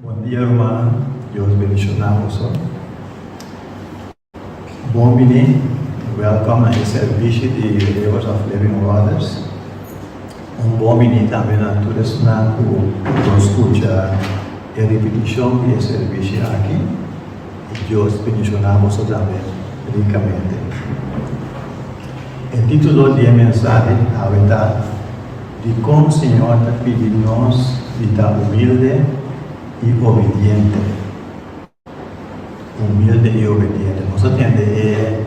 Bon dia rumannan, Dios bendiciona nos hoy. Bon bini, welcome na e servici di Rivers of Living Waters. Un bon bini tambe na tur esnan cu lo scucha e repeticion di e servici aki. Y Dios bendiciona boso tambe ricamente. E titulo di e mensahe awe ta, Dicon Señor ta pidi nos di ta humilde y obediente? Humilde y obediente. Nos a tende e.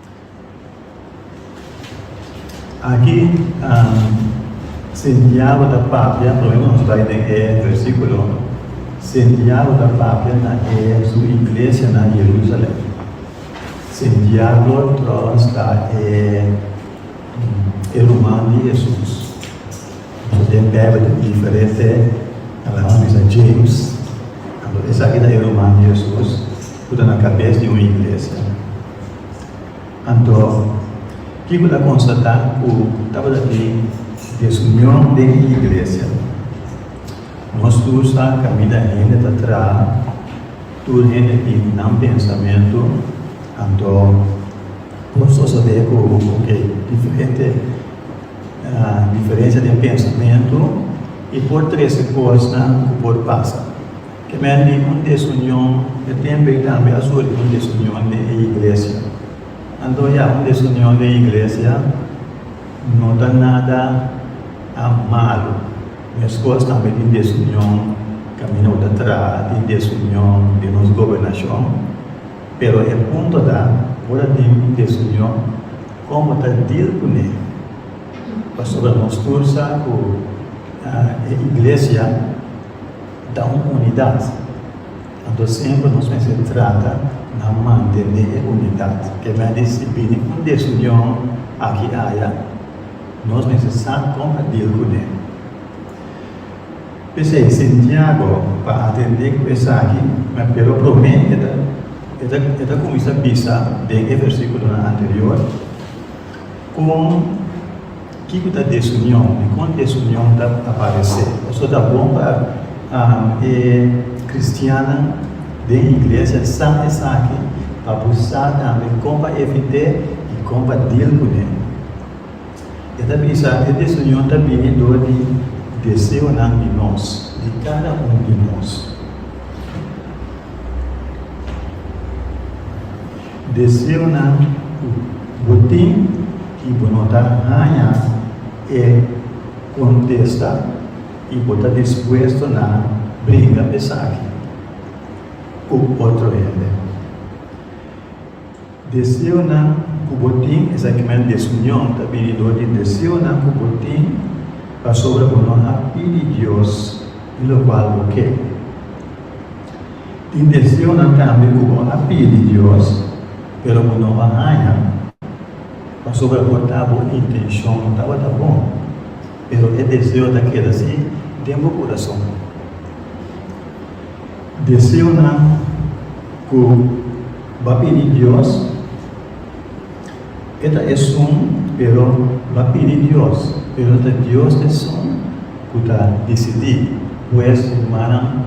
Aki Santiago ta papia, problema nos bai den e versikulo, Santiago ta papia na e su iglesia na Jerusalem. Santiago tròbas ta e e ruman di Hesus. Pasobra den Beibel tin diferente, nan a bisa James, esaki ta e ruman di Hesus. Cu ta na cabes di un iglesia. Anto, kico ta constata cu tabata tin desunion den e iglesia? Nos tur sa caminda hende ta traha, tur hende tin nan pensamentu, anto por sosode cu ok, diferente diferencia den pensamentu y por trece cosnan cu por pasa. Kimen di un desunion e tembe tambe a suri un desunion den e iglesia. Anto ya un desunion den iglesia no ta nada malu. Mescos tambe tin desunion caminda bo ta traha, tin desunion den nos gobernacion. Pero e punto ta, ora tin un desunion, con bo ta deal cu ne? Pasobra nos tur sa cu e iglesia. Ta un unidat. Anto siempre nos mester trata na mantene e unidat. Ke ta di si bini un desunion aki i aya, nos mester sa kon pa deal ku ne. P'esei Santiago pa atende ku esaki, na pero promé e ta e ta kuminsá bisa den e versíkulonan anterior, Kon kiko ta desunion i kon desunion ta aparesé? Pasobra ta bon pa e kristiannan den iglesia sa esaki pa bo sa tambe kon pa evit'é i kon pa dil kuné. E ta bisa, E desunion ta bini dor di deseonan di nos, di kada un di nos. Deseonan ku bo tin i bo no ta haña e kontesta i bo ta dispuesto na bringa esaki ku otro hende. Deseonan ku bo tin, esaki men desunion ta bini dor di deseonan ku bo tin pasobra bo no a pidi Dios lokual bo ke. Tin deseunan tambe ku bo a pidi Dios, pero bo no a haña. Pasobra bo ta bo intenshon tabata bon, pero e deseo ta keda si den bo kurason. Deseunan ku bo a pidi Dios. E ta esun, pero lo a pidi Dios, pero ta Dios esun cu ta dicidi. Pues, rumannan,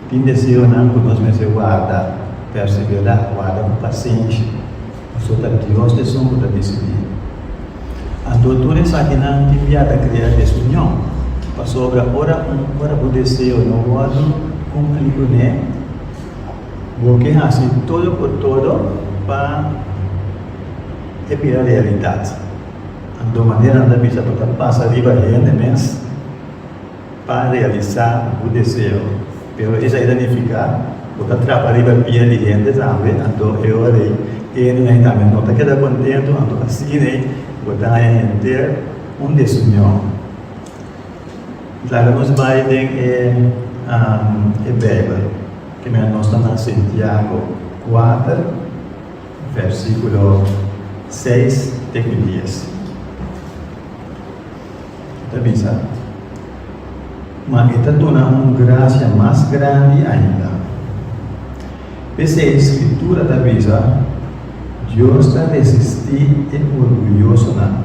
tin deseonan cu nos mester warda, persevera, warda cu pacienshi, pasobra ta Dios esun cu ta dicidi. Anto tur esakinan tin bia ta crea desunion, pasobra ora un, ora bo deseo no wordo cumpli cu ne, Bo ke hasi todo cu todo pa e bira realidad. Anto manera anda bisa pa ta pasa riba hende mes pa realisa bu deseo. Pero esai ta nifica bo ta trapa riba pia di hende tambe, anto e ora ei e hende nai tambe no ta keda contento, anto asina ei bo ta haya henter un desunieon. Klara nos bai den e e Bijbel ke mira nos ta na Santiago kuater versikulo seis te ku dies. E ta bisa, Ma e ta duna un grasia mas grandi ainda. P'esei Skritura ta bisa, Dios ta resisti e orguyosonan,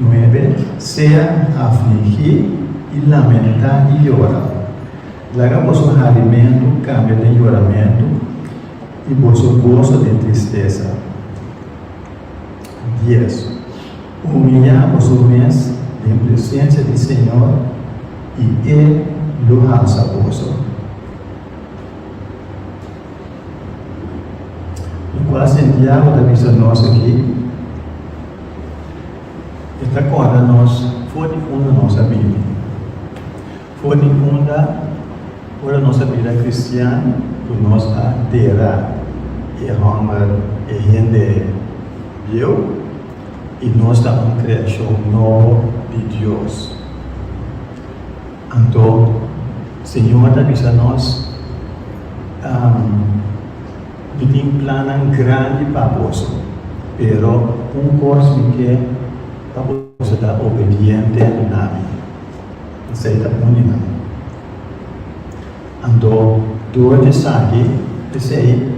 Nuebe, Sea afligí i lamentá i yora. Laga boso harimentu kambia den yoramentu i boso goso den tristesa. Dies, Humiliá boso mes den presensia di Señor i E lo hasa boso. I kua Santiago ta bisa nos aki? E ta korda nos for di unda nos a bini, for di unda ora nos a bira kristian ku nos a dera e hòmber, e hende bieu i nos ta un kreashon nobo di Dios. Anto, Señor ta bisa nos, Mi tin plannan grandi pa boso, pero un kos mi ke pa boso ta obediente na mi. Esei ta uni nan. Anto, dor di esaki, p'esei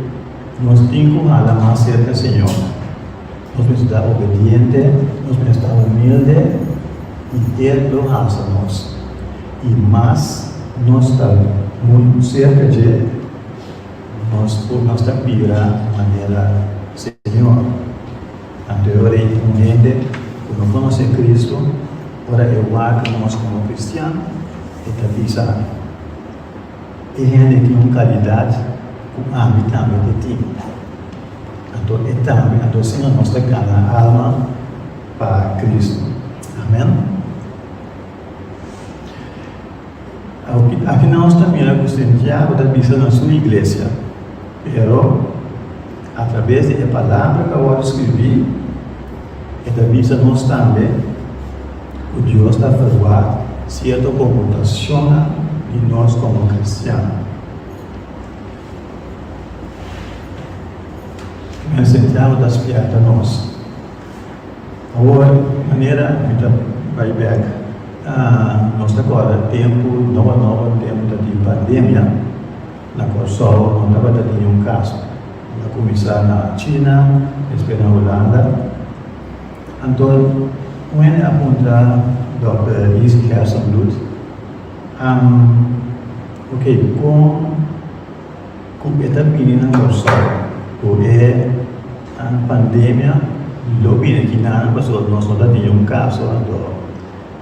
nos tin ku hala mas serka Señor. Nos mester obediente, nos mester humilde i e lo hasa nos. I mas nos ta muy cerca dje, nos por nos ta bira manera Señor. Anterior ey un hende cu no conoce Cristo, ora e wak nos como cristian, e ta bisa, E hende tin un kalidat ku ami tambe ta tin. Anto e tambe, anto asina nos ta gana alma pa Kristu. Amen. Aki, aki nos ta mira ku Santiago ta bisa na su iglesia, pero. A trabes di e palabra ku a wòrdu skiribí, e ta bisa nos tambe ku Dios ta aferuá sierto komportashonnan di nos komo kristian. Nan enseñansa ta spièrta nos. Awor, manera mi ta bai bèk, nos ta kòrda tempu nobo nobo, tempu ta tin pandemia. Na Kòrsou no tabata ningun kaso. Lo a kuminsá na China, despues na Hulanda. Anto un hende a puntra dòkter Lizzie Hersenbloed, Ham, ok, kon ku e ta bini na Kòrsou ku e pandemia lo bini aki na nan pasobra nos no ta ningun kaso? Anto,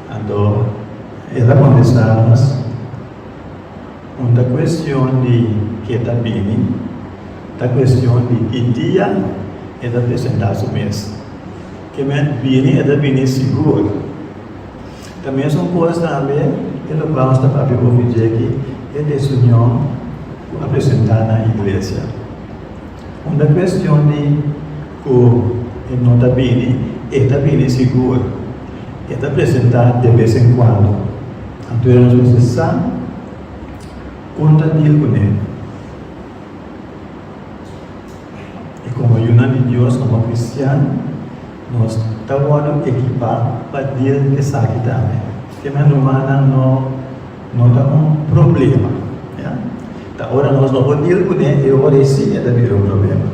anto el a kontestá mas. Un ta cuestion di ke ta bini, ta cuestion di ki dia e ta presenta su mes. Ke mes bini e ta bini sigur. Ta mesun cos tambe e locual nos ta papia hopi dje aki, e desunion cu a presenta na iglesia. Un ta cuestion di cu e no ta bini, e ta bini sigur. E ta presenta de vez en cuando. Anto e nos mester sa con ta deal cu ne. I como ayunan di Dios como cristian, nos ta wordo ekipa pa deal cu esaki tambe. Ke nan rumannan no no ta un problema, ya. Ta ora nos no por deal cu ne, e ora e si e ta bira un problema.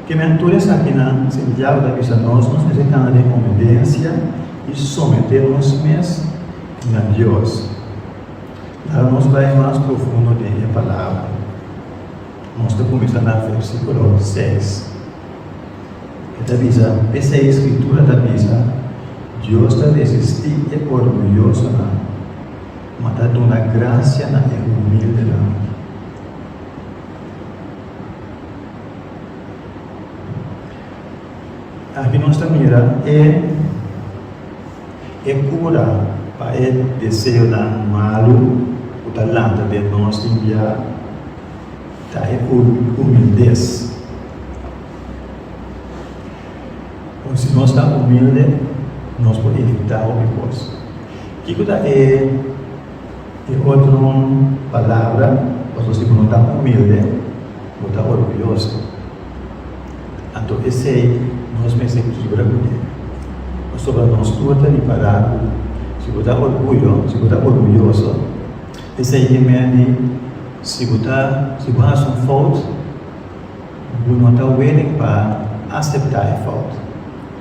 Ke men tur esakinan Santiago ta bisa nos? Nos mester kanda den obedensia i someté nos mes na Dios. Laga nos bai mas profundo den e Palabra. Nos ta kuminsá na versíkulo seis. E ta bisa, P'esei e Skritura ta bisa, Dios ta resistí e orguyosonan, ma ta duna grasia na e humildenan. Aki nos ta mira e e cura pa e deseonan malu cu ta lanta den nos tin bia ta e humildes. Con si nos ta humilde nos por evita hopi cos. Kico ta e. E otron palabra, Pas bo si bo no ta humilde, bo ta orguyoso. Anto esei nos mester kibra ku e. Pasobra nos tur ta ripará ku si bo ta orguyo, si bo ta orguyoso, esei ke mende si bo ta, si bo hasi un fout, Bo no ta willing pa acepta e fout.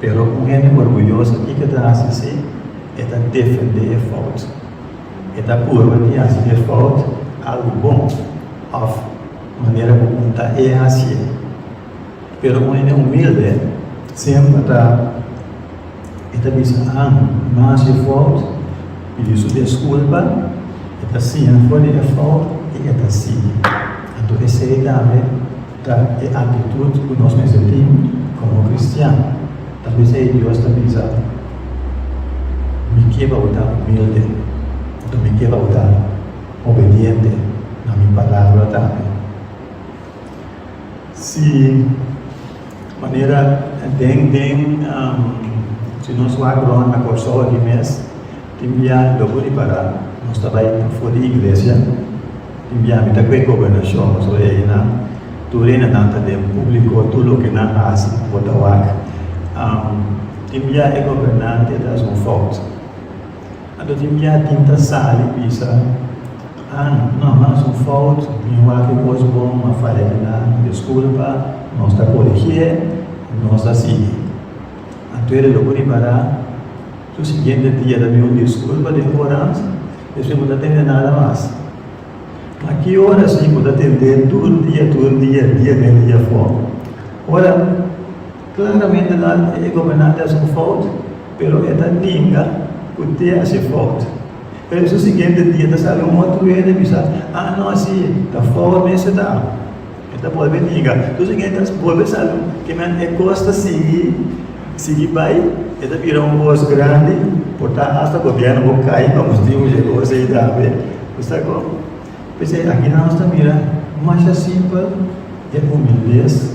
Pero un hende orguyoso kico ta haci si? E ta defende e fout. E ta purba di haci e fout algo bon of manera cu un ta e hacié. Pero un hende humilde semper ta. E ta bisa An, No hasi e fout, pidi su desculpa, e ta siña for di e fout i e ta sigui. Anto esei tambe ta e aktitut ku nos mester tin komo kristian. Tal bes ei Dios ta bisa, Mi ke pa bo ta humilde, anto mi ke pa bo ta obediente na mi palabra tambe. Si manera den den si nos wak rond na Kòrsou aki mes, tin bia logu di pará nos ta bai for di iglesia, tin bia mi ta kue gobernashon, so einan, tur enanan ta den públiko, tur loke nan hasi bo ta wak. Tin bia e gobernante ta haci un fòut. A ta limpiá tinta sal i bisa, An, no mas un fout, mi wak e kos bon, ma faya di nan, diskulpa. Nos ta korigié i nos ta sigui. Anto e reloku riba ra. Su siguiente dia ta bin un diskulpa den orans, despues bo ta tende nada mas. Ma ki ora si bo ta tendé tur dia, tur dia, dia den, dia for? Ora. Klaramente nan e e gobernante a su fout, pero e ta ninga cu te a si fout. Pero esun siguiente dia ta sali un otro wene bisa, Ah, no asi, ta fout mester ta. E ta bolbe ninga. Tus again ta bolbe sali ke nan e cos ta sigui, sigui bay, e ta bira un cos grandi, por ta hasta gobierno bo cay pa bo diu llegó asey tambe. Bo sa cu? P'esey aki nan nos ta mira masha simpel e humildes.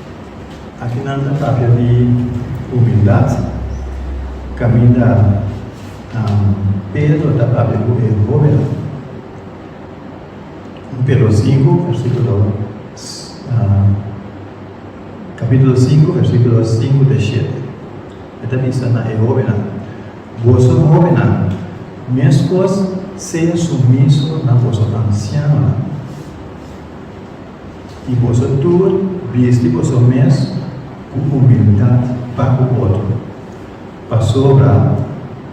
Aki nan ta papia di humildat, kaminda Pedro ta papia ku e hoben Pero sinku versikulo kapitulo sinku versikulo sinku te shete. E ta bisa na e hobennan, Boso hobennan, meskos sea sumiso na boso ansianonan. I boso tur bisti boso mes ku humildat pa ku otro, pasobra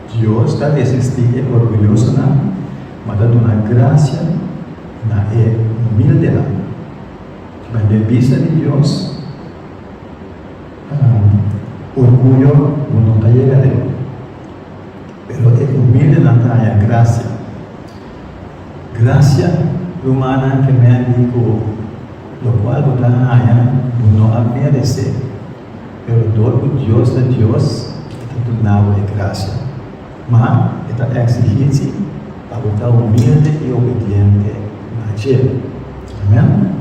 Dios ta resistí e orguyosonan, ma ta duna grasia na e humildenan. Riba den bista di Dios, orguyo bo no ta yega leu, pero e humildenan ta haña grasia. Gracia rumannan ke mea di ku lo kual bo ta haña bo no a meresé, pero dor ku Dios ta Dios e ta duna bo e gracia. Ma e ta eksigí si pa bo ta humilde i obediente na dje. Amèn.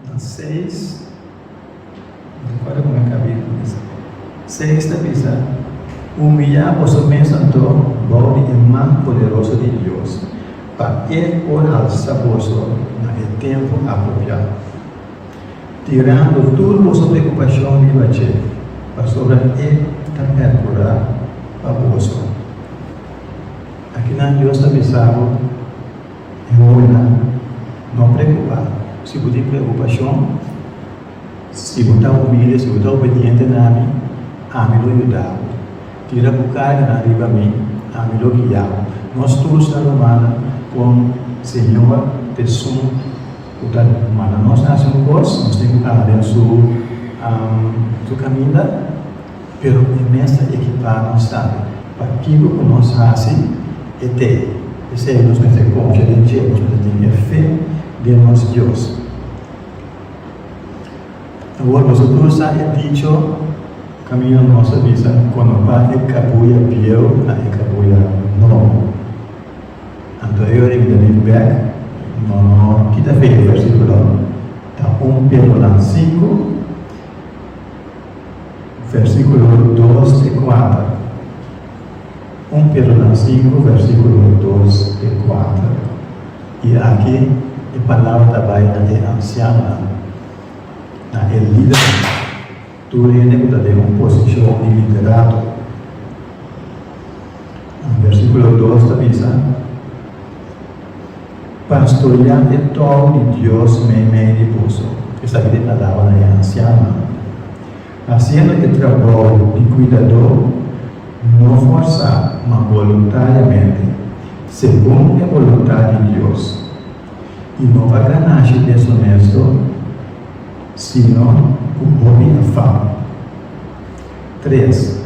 Ta seis Recuerda como e cabia ta bisa. Seis ta bisa, Humillá boso mes anto bou di e man poderoso di Dios, pa E por alsa boso na e tempu apropiá, tirando tur boso preocupashon riba dje, pasobra E ta percurá pa boso. Akinan Dios ta bisa bo. E hobennan, no preokupá. Si bo tin preokupashon, si bo ta humilde, si bo ta obediente na mi, ami lo yuda bo. Tira bo karganan riba mi, ami lo guia bo. Nos tur sa lo manda kon Señor t'esun ku ta manda nos hasi un kos, nos tin ku anda den su kaminda. pero e mes ta ekipá nos sa pa kiko ku nos hasi e te. P'esei, nos mester konfia den Dje, nos mester tin e fe den nos Dios. Awor, boso tur sa e dicho, Kaminyo hermoso bisa, Konopá e kabuya bieu na e kabuya nobo. Anto e yorin den e bèk, no no kita fe e versikulo, ta un pelo nan sinku. Versíkulo dos te kuater. Un Pedro nan sinku, versíkulo dos te kuater. I aki e palabra ta bai na e ansiannan, na e lidernan, tur hende ku ta den un posishon di liderato. Versíkulo dos ta bisa. Pastorea e tòg di Dios meimei di boso, esaki di alaba na e ansiannan. Hasiendo e trabou di kuidadó, no forsá, ma boluntariamente, segun e boluntad di Dios. I no pa ganashi desonesto, sino ku hopi afan. Tres.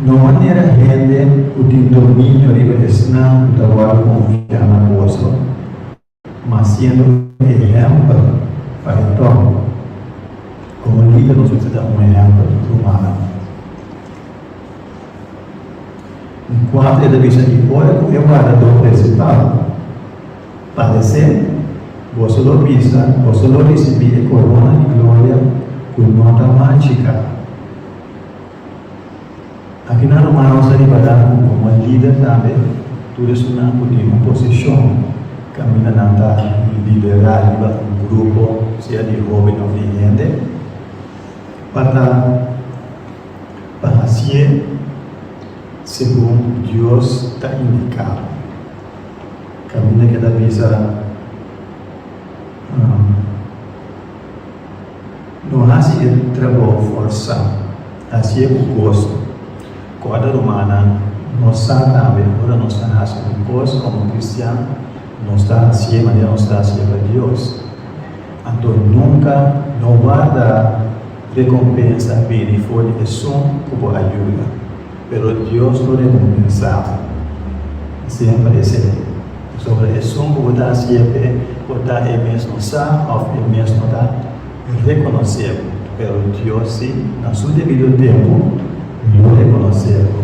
No manera hende ku tin dominio riba esnan ku ta wòrdu konfiá na boso, mas siendo un ehèmpel pa e tòg. Komo lider nos mester ta un ehèmpel pa rumannan. Un kuater ta bisa, I ora ku e wardadó prensipal padesé, boso lo bisa, boso lo risibí e korona di gloria ku no ta marchi ka. Aki nan rumanos a ribadá ku komo lider tambe tur esunnan ku tin un posishon kaminda nan ta liderá riba un grupo sea di hóben òf di hende pa ta pa hasié segun Dios ta indiká. Kaminda ke ta bisa No hasi e trabou forsá, hasié ku goso. Kòrda rumannan, nos sa tambe ora nos ta hasi un kos komo kristian, nos ta hasié manera nos ta hasié pa Dios. Anto nunka no warda rekompensa bini for di esun ku bo a yuda. Pero Dios lo rende un mensahe y siempre e sey. Pasobra esun cu bo ta hacié p'e por ta e mesmo sa of e mesmo ta reconoce'bo. Pero Dios si, na su debido tempo, lo reconoce'bo.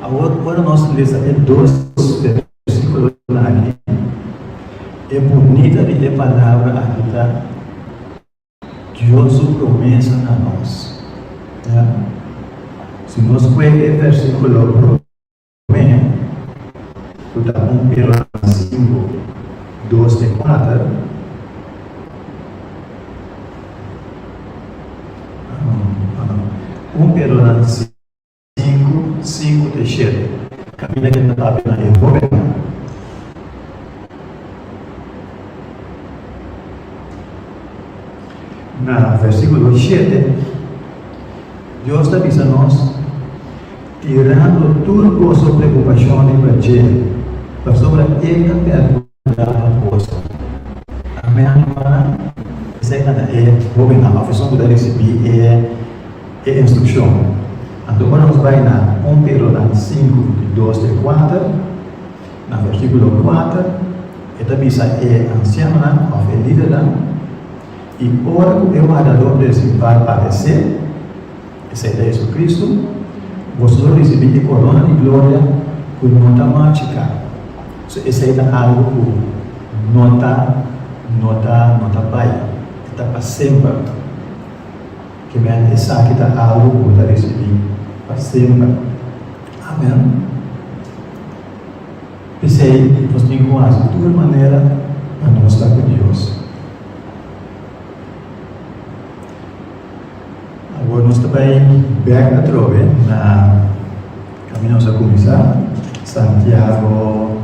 Awor, ora nos lesa e dos versiculonan aki, e bunita di e palabra aki ta. Dios su promesa na nos. Ya. Si nos kue e versikulo promé, ku ta un Iran sinku, dos te kuater, un Iran Sinku, sinku te shete. Kaminda ke ta papia na e hóbennan. Na versíkulo shete, Dios ta bisa nos, Tirando tur boso preokupashonnan pa dje, pasobra e ta pèrdua. Dama Bosa, a mehor para di serka na e hobennan of esun ku ta risibí e e instrukshon. Anto ora nos bai na un Teronan sinku di dos te kuater, na versíkulo kuater, e ta bisa e ansiaonan of e lidernan, I ora ku e wardadó prensipal paresé, Esei ta JesuCristu, boso lo ricibi e corona di gloria cu no ta marcica. So esei ta algo cu no ta, no ta, no ta bay, e ta pa semper. Kibend esaki ta algo cu bo ta ricibi pa semper. Amen. P'esei nos tin cu haci tur manera pa nos ta cu Dios. Awor nos ta bai bek atrobe na kami nos a kuminsá, Santiago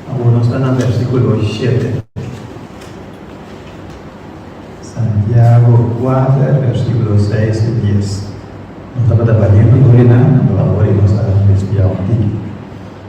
Awor nos ta na bèrsikulo shete. Santiago kuater bèrsikulo seis i dies. Nos tabata baliente gloria na anto awor i nos a respiá un tiki.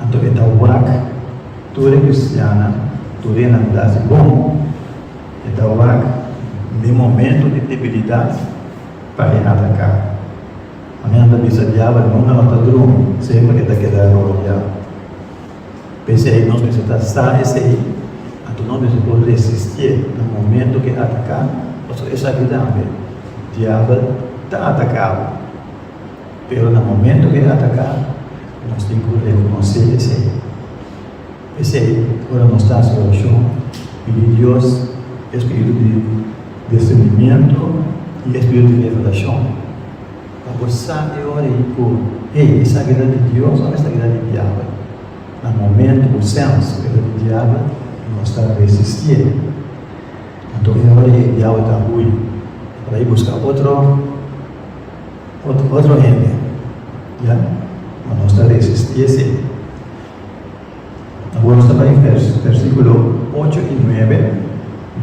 Anto e ta wak tur e kristiannan, tur e hermandad di bon. E ta wak den momento di debilidad pa e ataca. Angelnan ta bisa Diabel, Nunca no ta drumi, semper e ta keda rodia. P'esei nos mester ta sa esei, anto nos mester por resistié na momento k'e ataca, pasobra e sabi tambe Diabel ta atacabo. Pero na momento cu e ataca, nos tin cu reconoce esey. P'esey, ora nos ta haci oracion, pidi Dios espiritu di discernimiento y espiritu di revelacion pa por sabi e ora ey cu, Hey, esa guerra di Dios o esta guerra di Diabel? Na momento cu sens cu era di Diabel, nos ta resisti ey. Anto e ora ey Diabel ta hui, e ta bay busca otro. ot, otro hende, ya, ma nos ta resisti esei. Awor nos ta bai e vers, versikulo ocho i nuebe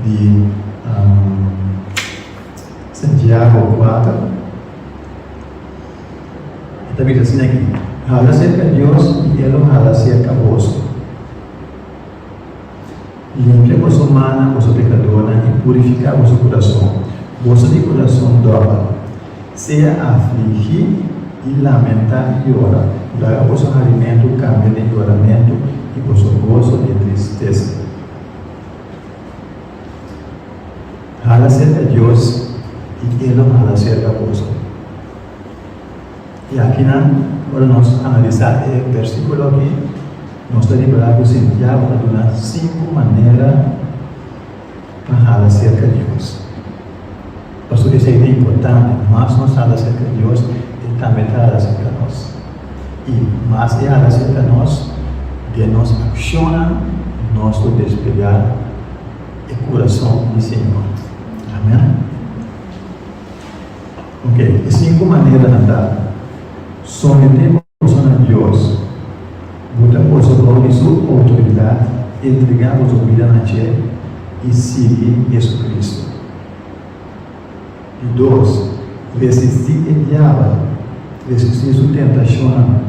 di Santiago kuater, e ta bisa asin aki, Hala serka Dios i e lo hala serka boso. Limpia boso mannan, boso pekadónan, i purifiká boso kurason, boso di kurason dòbil. Sea afligí i lamentá i yora, laga boso harimentu kambia den yoramentu i boso goso den tristesa. Hala serka Dios, i E lo hala serka boso. I akinan, ora nos analisá e bèrsikulo akí, nos ta rekorá ku Santiago a duna sinku manera pa hala serka Dios. Pasobra esei ta importante, mas nos hala serka Dios, e tambe ta hala serka nos. I mas e hala serka nos, den nos akshonnan nos lo desplegá e kurason di Señor. Amèn. Ok, e sinku maneranan ta, Someté bo boso na Dios, Bo ta boso bou di Su outoridat, Entregá boso bida na dje, i sigui JesuCristo. Di dos, Resistí e diabel, Resistí su tentashonnan.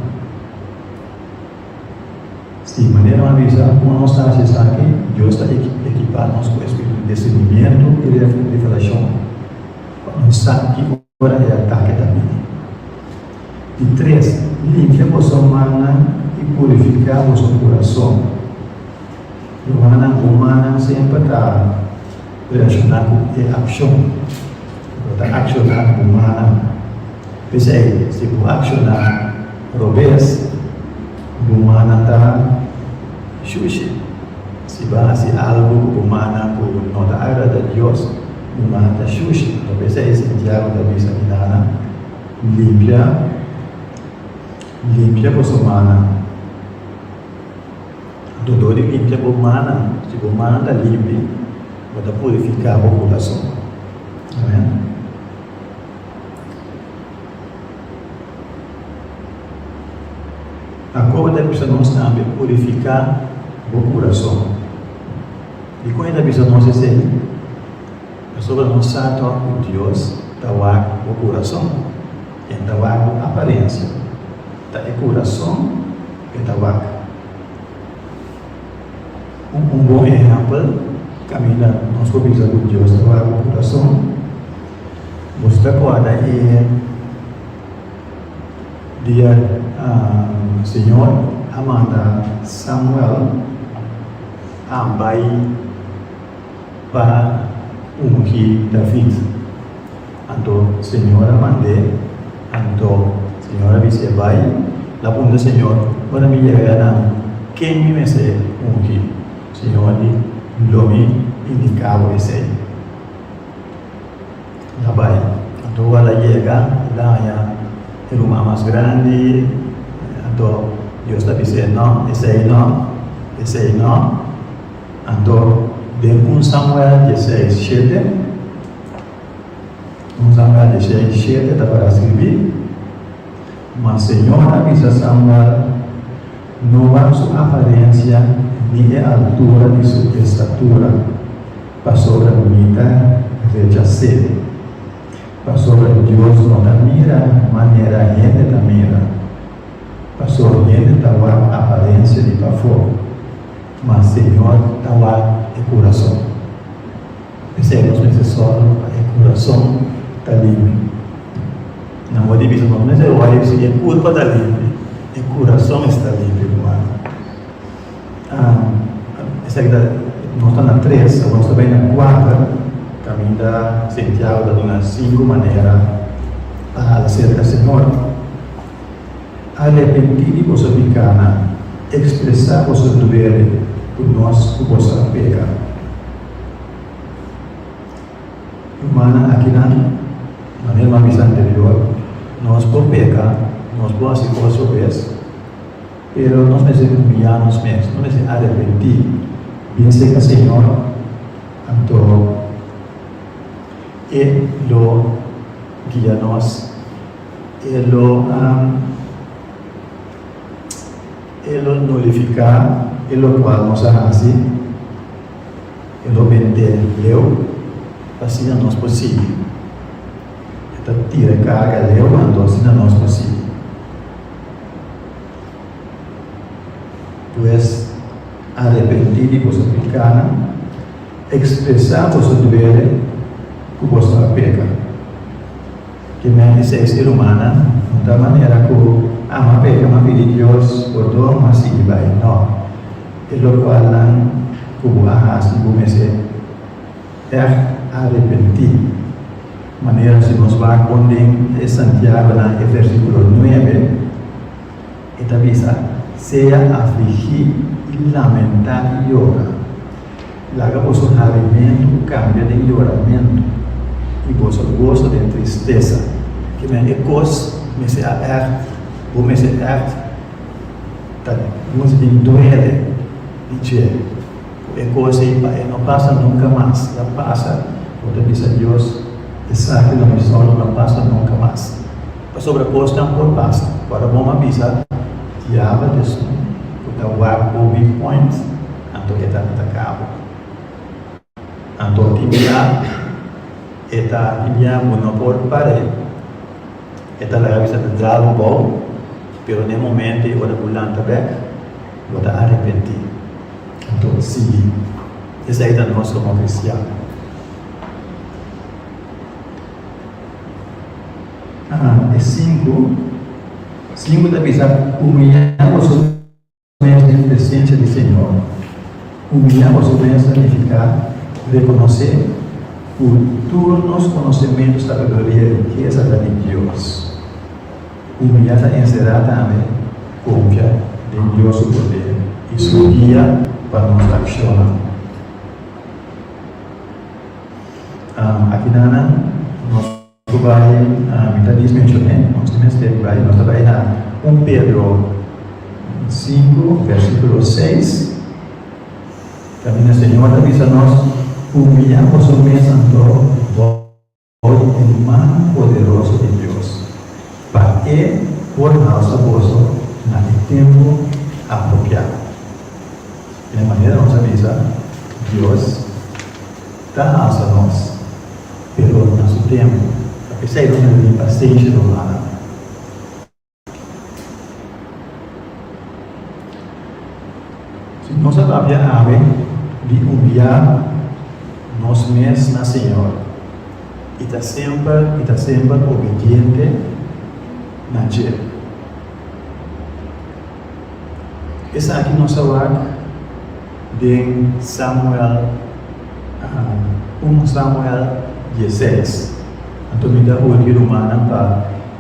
Si, maneranan bisa, Kuma nos ta hasi esaki? Dios ta ekipá nos ku espiritu di disernimiento i revelashon. pa bo sa ki ora e atake ta bini. Di tres, limfia boso mannan i purifiká boso kurason. Rumannan o mannan semper ta reakshoná ku e akshon ku bo ta akshoná ku bo mannan. P'esei, si bo akshoná robes, bo mannan ta shushi. Si bo hasi algu ku bo mannan ku no ta agrada Dios, Mi man ta shushi. Tal bes ahi Santiago ta bisa di Ana, Limpia, limpia bo somannan. Dor di limpia bo mannan, si bo mannan ta limpi, bo ta purifiká bo kurason. Amén. Ta corda bisa nos tambe purifica bo curason. Di con e ta bisa nos esey? Pasobra nos sa tok cu Dios ta wak bo curason. E ta wak bo aparencia. Ta e curason cu e ta wak. Un bon ehempel caminda nos por bisa cu Dios ta wak bo curason. Bos ta guarda e dia Señor a manda Samuel a bai pa ungi David. Anto Señor a mand'é, anto Señor a bisié, Bai, la punta Señor, ora mi yega na ken mi mester ungi? Señor di, Lo mi indica bo esei. a bai. Anto Juan a yega, el a haña e ruman mas grandi. Anto Dios ta bis'é, No, esei no, esei no. Anto den un Samuel dieseis shete, un Samuel dieseis shete ta para scribí. Ma señora Lisa Sambar no ban su aparensia ni e altura di su estatura pasobra mi ta rechas'é, pasobra Dios no ta mira manera hende ta mira, paso hende ta wak aparensia di pafó, ma Señor ta wak e kurason. P'esei nos mester sòru pa e kurason ta limpio. Nan mester bisa, Nos mester wòrdu si e kurpa ta limpio, e kurason esta limpio ku Anna. Esaki ta, nos ta na tres, awor nos ta bai na kuater. Kaminda Sentiago ta duna sinku manera pa hala serka Señor. Arepentí di boso piká nan. Ekspresá boso duele ku nos ku boso a peka. Rumannan akinan, manera nos a bisa anterior, nos por peka, nos por hasi kos oves, pero nos mester humiliá nos mes, nos mester arepentí, bin seka Señor, anto E lo guia nos, E lo E lo nullifiká e lokual nos a hasi. e lo mente leu, asina nos por sigui. E ta tira e karga leu anto asina nos por sigui. Pues, arepentí di boso picánan, expresá boso duele cu boso a peca. Ki mente seis di rumannan no ta manera ku Ama a peka ma pidi Dios pordon ma sigui bai. No. E lokualnan ku bo a hasi bo mester ègt arepentí. Manera si nos wak honden e Santiagonan e vèrsikulo nuebe. E ta bisa, Sea afligí i lamentá i yora. Laga boso habimentu kambia den yoramentu, i boso goso den tristesa. Kimen e kos mester a èrt? Bo mester èrt? Ta nos bin duele di dje. Cu e cosa ey pa e no pasa nunca mas y a pasa, bo ta bisa Dios, Esaki lo mi solo no a pasa nunca mas. Pasobra cosnan por pasa, cu ora bo mi a bisa, Diabel Jesús, cu ta wak bo weak point, anto e ta ataca bo. Anto tin bia e ta tin bia bo no por par'e, e ta laga bisa ta dra bo bou, pero n'e momento y ora bo lanta bek, Bo ta arepentí. Anto sigui. Esei ta nos komo kristian. E sinku, sinku ta bisa, Humiliá boso mes den presensia di Señor. Humiliá boso mes ta nifiká rekonosé ku tur nos konosementu, sabiduria i rikesa ta di Dios. Ku mi a ta enserá tambe konfia den Dios su poder i su guia pa nos akshonnan. Akinan nan nos ku bai, mi ta bis menshoné, nos ta mester di bai, nos ta bai na un Pedro sinku, versíkulo seis, kaminda Señor ta bisa nos, Humbiá boso mes anto, Ora e man poderoso di Dios pa e por halsa boso na e tempu apropiá. Den manera nos a bisa, Dios ta halsa nos, pero na su tempu. Ta p'esei nos debe tin pasensha rumana. Si nos a tabia awe di humbiá nos mes na Señor i ta semper i ta semper obediente na dje, esaki nos a wak den Samuel, un Samuel diesseis. Anto mi ta hoor di rumannan pa.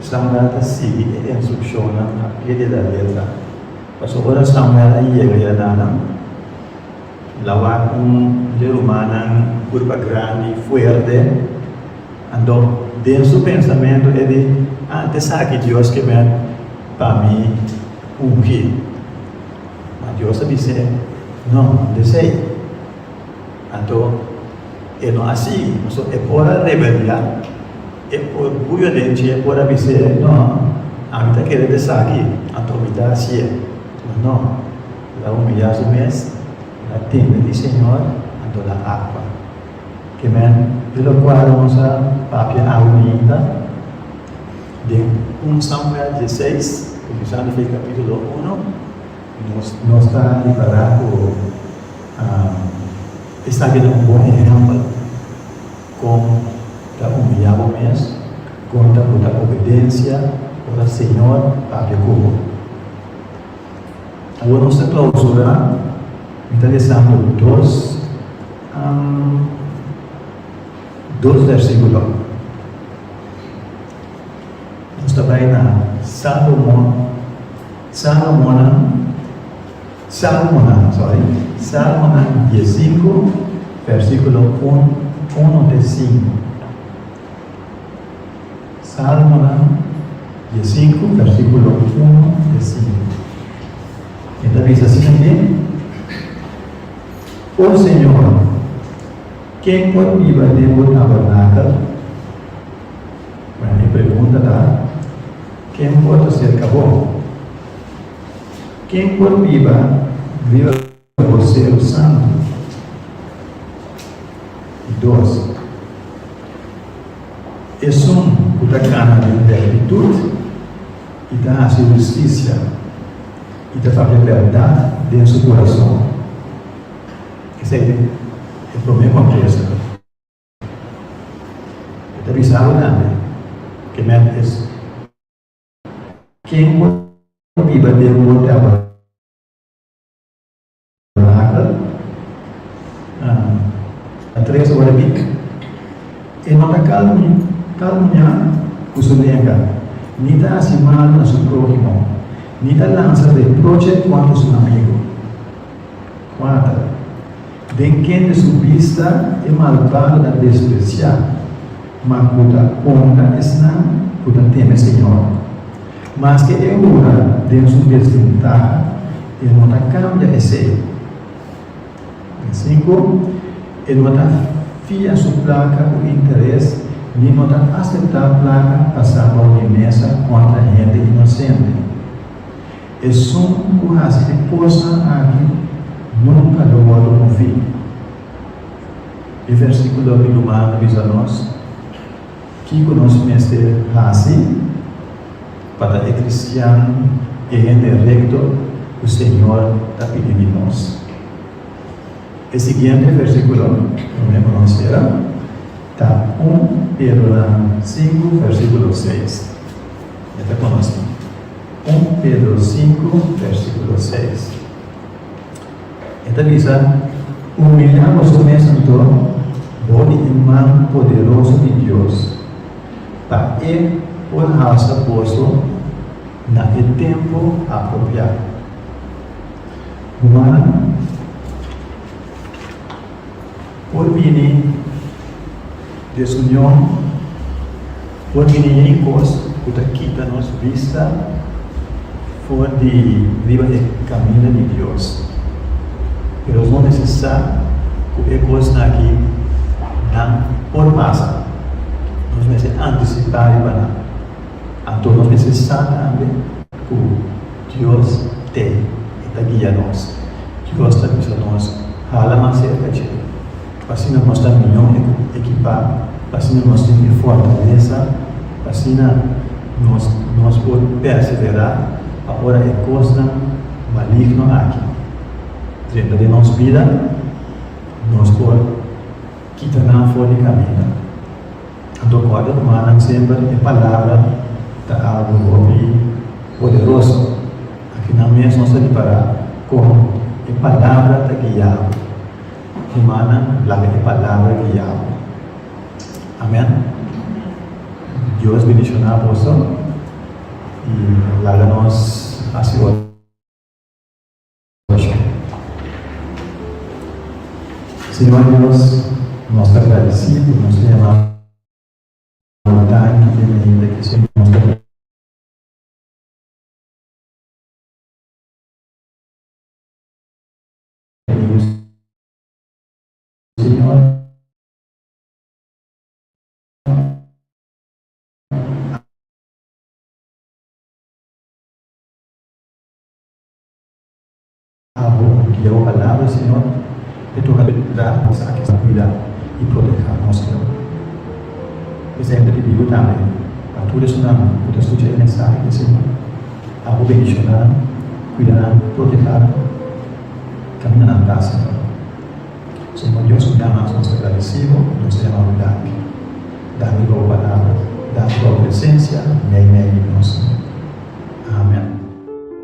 Samuel ta sigui e instrukshonnan a pie di la letra. Pasobra ora Samuel a yega ya nan lawa un di rumannan purba grandi, fuerte. Anto den su pensamentu e di, Ah, ta esaki Dios ke men pa mi ungi. Ma Dios a bis'é, No, no ta esei. Anto, e no así, pasobra e por a rebeliá, e orguyo den dje por a bis'é, No, ami ta kere desaki, anto mi ta hasié. Pero no, el a humiliá su mes, el a teme di Señor, anto el a actua. Ke men di locual nos a papia awe mainta, den un Samuel dieseis, cuminsando di capítulo uno, nos ta ripará cu, Esaki ta un bon ehèmpel kon ta humiliá bo mes konta bo ta obedensia ora Señor ta habia ku bo. Awor nos ta klausurá, mi ta lesando dos dos versíkulo. Nos ta bai na Salomon, Salomonnan. Salmonan, sorry, Salmonan diesinku, versikulo un, unu te sinku. Salmonan diesinku, versikulo unu te sinku. E ta bisa asina ke, O Señor, ken por biba den Bo tabernakel? Bueno, e pregunta ta, Ken por ta serka Bo? Ken por biba riba bosero santu? Dos, esun ku ta gana den rèktitut i ta hasi hustisia i ta papia bèrdat den su kurason, esei ta e promé kontresa. E ta bisa abo tambe, ke mèt es. Ken por biba den bo tabernakel na tres ora di e nota kal muña ku su lenga, ni ta hasi mal na su próhimo, ni ta lansa reproche kontra su amigu. Kuater. Den kende su bista e malbado ta despresiá, ma ku ta onra esnan ku ta teme Señor. Maske e ora den su desventaha, e no ta kambia esei. Asin ku, e no ta fia su plaka ku interes ni no ta aseptá plaka pasá bou di mesa kontra hende inosente. Esun ku hasi e kosnan aki nunka lo wòrdu mofí. E versíkulo di Ruman ta bisa nos kiko nos mester hasi pa ta e kristian, e hende rekto ku Señor ta pidi di nos. E siguiente versíkulo, ku mi a pronunsiera, ta un Pedro nan sinku, versíkulo seis. Mi ta konosí I Pedro sinku, versíkulo seis, e ta bisa, Humiliá boso mes anto, bo di e man poderoso di Dios, pa E por halsa boso na e tempu apropiá. Rumannan. Por bini desunion, por bini yey kos ku ta kita nos bista for di riba e kaminda di Dios. Pero nos mester sa ku e kosnan aki nan por pasa. Nos mester antisipá riba nan. Anto nos mester sa tambe ku. Dios t'e i ta guia nos. Dios ta bisa nos, Hala mas serka dje, pa asina nos ta mihó ekipá, pa asina nos tin e fortalesa, pa asina nos nos por perseverá pa ora e kosnan maligno aki drenta den nos bida, nos por kita nan for di kaminda. Anto ku a ta ruma nan semper e palabra ta algu hopi poderoso. Akinan mes nos ta ripará kon e palabra ta guiabo. Rumannan, laga e palabra guiabo. Amèn. Dios bendishoná boso i laga nos hasi otro. Señor Dios, nos ta agradeci cu nos tin e mano bonitan ki tin e hende ki siempre nos ta Abo ki yao a lado e Señor, e toca bendra nos aki ta cuida y proteha nos, Señor. Mes hende di biu tambe, pa tur esunnan cu ta scucha e mensahe di e Señor, abo bendiciona nan, cuida nan, proteha nan, camina nan pas, Señor. Señor Dios cu mira mas, nos ta agradecido y nos ta yamabo danki. Danki pa bo palabra, danki pa bo presencia mei mei di nos, Señor. Amen.